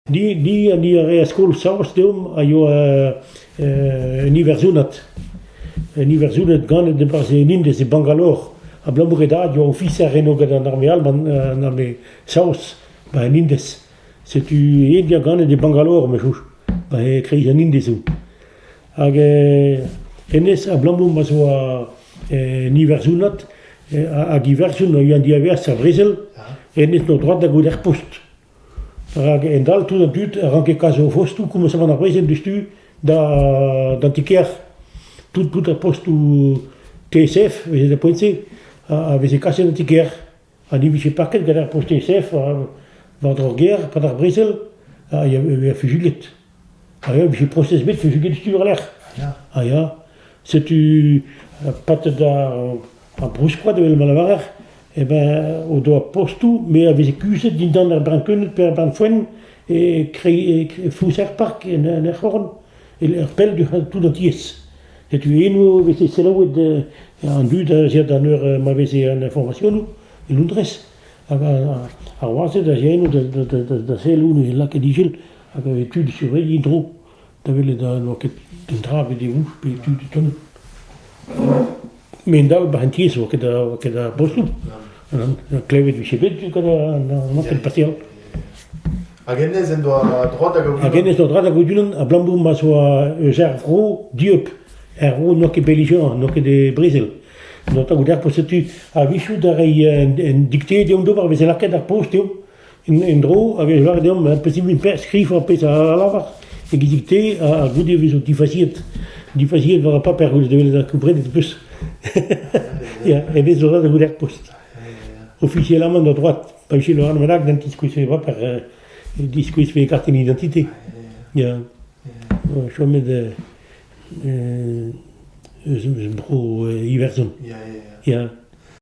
Ni ha ni a rae skol saoz deomp a yoa un iwerzhonad. Un iwerzhonad ganet e-barzh en Indez, e Bangalore. Abalamour e dad yoa ofiser eno gant an arme alban, an arme saoz, ba en Indez. Setu e dia ganet e Bangalore, me chouch, ba e kreiz an Indez zo. Hag hennezh abalamour ma zo un Iwerzhonad, hag Iwerzhon a yoa en diavaez ar brezel, hennezh n'oa droad da gaout er post. Rak endall tout an dud a ranke kas o fostoù komañsamant ar brezel diouzhtu d'an ti-kêr. Tout ar postoù TSF, a veze da poent-se, a veze kaset d'an ti-kêr. ha ne vije paket gant ar posteñsef war-dro ar gêr e-pad ar brezel a vezañ fuzuilhet. Ha e vije prosez bet fuzuilhet sur a-lec'h. Ha ya, setu patet ar brouskoad evel ma lavarer, eh ben o doa postoù me a veze kuzhet dindan ar brankeuned pe ar branfoenn e fouser-park en er c'horn. e-lec'h pell du c'hall tout an tiez. Setu eno e veze selaouet an dud a-ziañ d'an eur ma veze an informasionoù, e Loundrez. Hag ar wazed a-ziañ eno da sellout e lakaet ijil hag e tud surveilh dro da welet n'oa ket un dra bet e ouch pe tud e tonn. Me'ndall, barentez e oa ket a oa ket ar bostoù. Klevet 'vije bet gant an ankell pasial. Hag hennezh en doa droad hag Hag hennezh doa droad hag Odulan abalamour ma'z oa eus ar vro dieub. Er vro n'oa ket belizion, n'oa ket e brezel. N'oa tagout ar post setu. A-wechoù da reiñ un dikte deomp d'ober, 'veze lakaet ar post eo. En-dro hag a-geñver deomp e posibl pe skriv ar pezh a lavar e-gizik-te ha goude e vezo difaziet difaziet war ar paper koulz evel da gomprenit ho peus ya e vezo ret da welet post ofisialamant a droat pa vije lavaret manag n'en tiskouezfe e baper e diskouezfe e kartenn identité ya chomet eus eus bro Iwerzhon ya